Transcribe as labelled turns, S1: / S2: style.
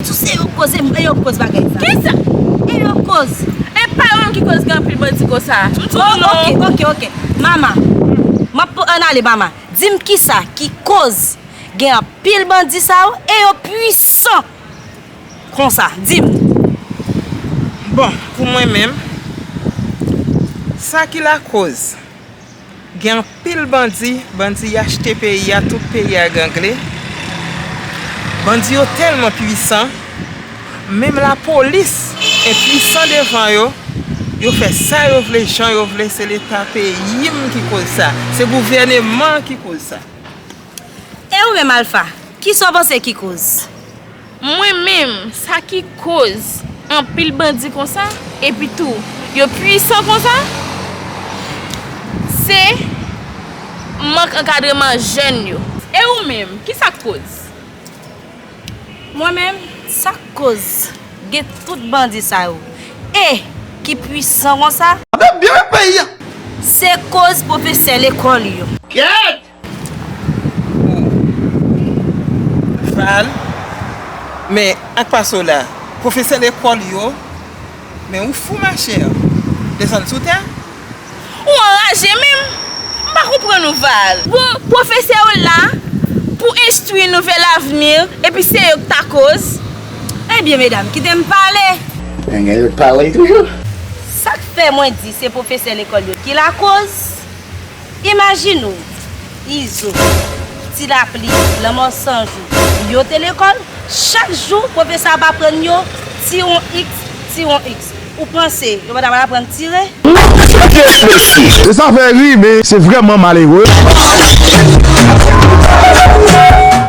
S1: Tout se yo koz e yo koz bagay sa. Kisa? E yo
S2: koz.
S1: E pa yo menm ki
S2: koz gen anpil bandi konsa. Oh ok ok ok
S1: mama map pou an ale mama dim kisa ki koz gen anpil bandi sa yo e yo pwisan konsa dim.
S3: Bon pou mwen menm sa ki lakoz. Gen anpil bandi, bandi achte peyi a tout peyi a gangle. Bandi yo tèlman pwisan, menm lapolis enpwisan devan yo, yo fè sa yo vle jan yo vle se leta peyi m ki koz sa, se gouvèneman ki koz sa.
S1: E ou menm Alpha, kisa w panse ki koz? Mwen menm
S2: sa ki koz anpil bandi konsa epi tou yo pwisan konsa se mank ankadreman jèn yo. E ou menm ki sak koz? Mwen
S1: menm sak koz gen tout bandi sa yo e ki pwisan konsa? Gade byen peyi a.
S4: Se
S1: koz pwofesè lekòl yo. Gèt!
S3: Val, Men, ak pa sa w la? Pwofesè lekòl yo, Men ou fou machè? Desann sou tè? Ou
S2: anraje menm? M pa konprann ou, Val. Bon, pwofesè yo la pou enstwi nou vè lavni epi se yo k ta koz. Ebyen
S1: medam, kite m pale. An gen lòt
S4: pawòl toujou? Sa k fè
S1: mwen di se pwofesè lekòl yo ki lakoz? Imajine w, Izo, Ti Lapli, Lanmò San Jou, yo te lekòl, chak jou pwofesè ap aprann yo tiron x, tiron x. Ou panse yo pa t ap aprann tire?
S4: E sa fè ri, men se vrèman malere.